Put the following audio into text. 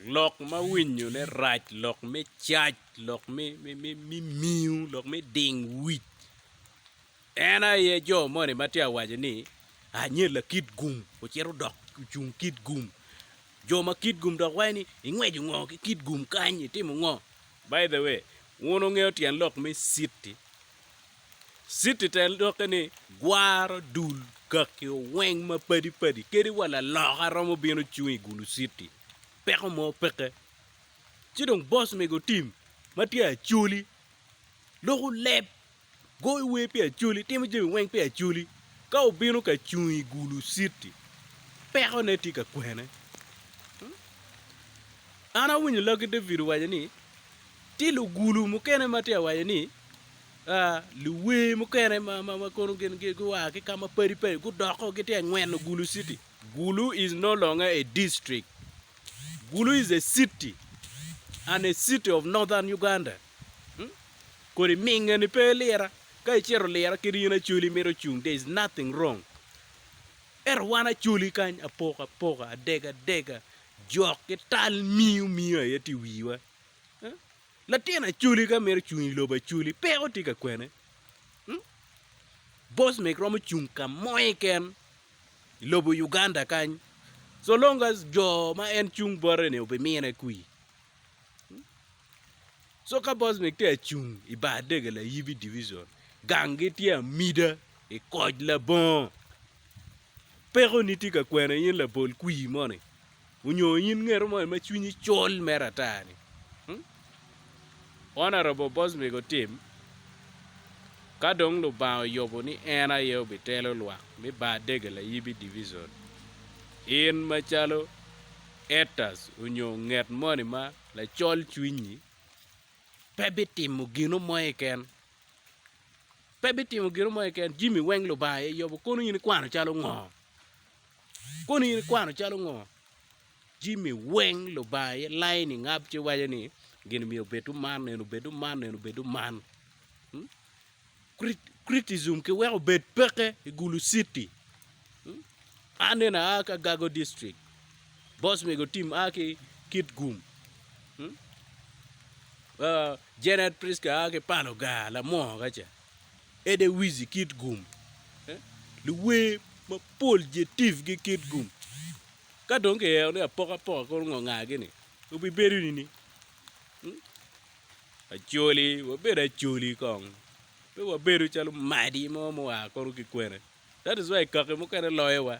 Lok ma winyone rac, lok me cac, lok me miu, lok me ding wic. En aye jo moni ma tye ka waco ni anyella kit gum ocito odok ocung kit gum. Jo ma kit gum dok waco ni ingweco ngo ki kit gum kany, itimo ngo? By the way, wun wungeyo tyen lok me city? Citi te dokke ni, Gwaro dul kaki oweng ma padi padi kadi wa laloka romo bino cung i gulu citi. Peko mo peke. Ci dong boss mego tim ma tye acholi. Loko leb, goyo wer pi acholi, timo jami weng pi acholi. Ka obino ka cung i gulu citi, peko ne tye ka kwene. An awinyo lagi David owaco ni, Tye lugulu mukene ma tye awaco ni, Luwer mukene ma kono gin gua ki ka mapadi padi gudoko gitye ka ngweno Gulu City. Gulu is no longer a district. Gulu is a city and a city of Northern Uganda. Kodi minge ni pe ilira. Ka icito lira kadi in Acholi imito cung there is nothing wrong. Ento wan Acholi kany apoko apoka, adega dega, jok ki tal miyo miyo aye tye i wiwa. Latin Acholi ka mito cung i lobo Acholi, peko tye ka kwene. Hmm? Bosmek romo cung ka moye ken i lobo Uganda kany. So long as jo ma en cung bote-ni obimine kwi. Hmm? So ka Bosmek tye acung i bar dege layibi division, ganggi tye amida i koc labongo. Peko ni tye ka kwene in labol kwi moni. Onyo in ngeto moni ma cwinyi col mere ata ni, hmm? Honourable Boswick otim, ka dong Lubanga oyubo ni en aye obitelo lwak me bar dege layibi division, in macalo Etas onyo nget moni ma lacol cwinyi, pe bitimo gino mo keken. Pe bitimo gino mo keken, jimi weng Lubanga aye yubo, kono in ikwano calo ngo? Kono in ikwano calo ngo? Jimmy weng lubanga aye lain ingab ci waco ni gin myero obed man nene obed man nene obed man. Hmm? Criticism ki weko obed peke i Gulu City. Hmm? An nene a ka Gago District. Boss mego tim a ki Kit Gum. Hmm? Uh, Janet Priska a ki Panoga, Lamonga ca. Ede Wizi kit gum, luwer mapol je tifgi kit gum. Ka dong kiyero ni apokapoka kono ngo ngagi ni obibedo nini? Acoli, wabedo acoli kong, pe wabedo calo madi mo mua kono ki kwene. That is why kaki mukene loyowa.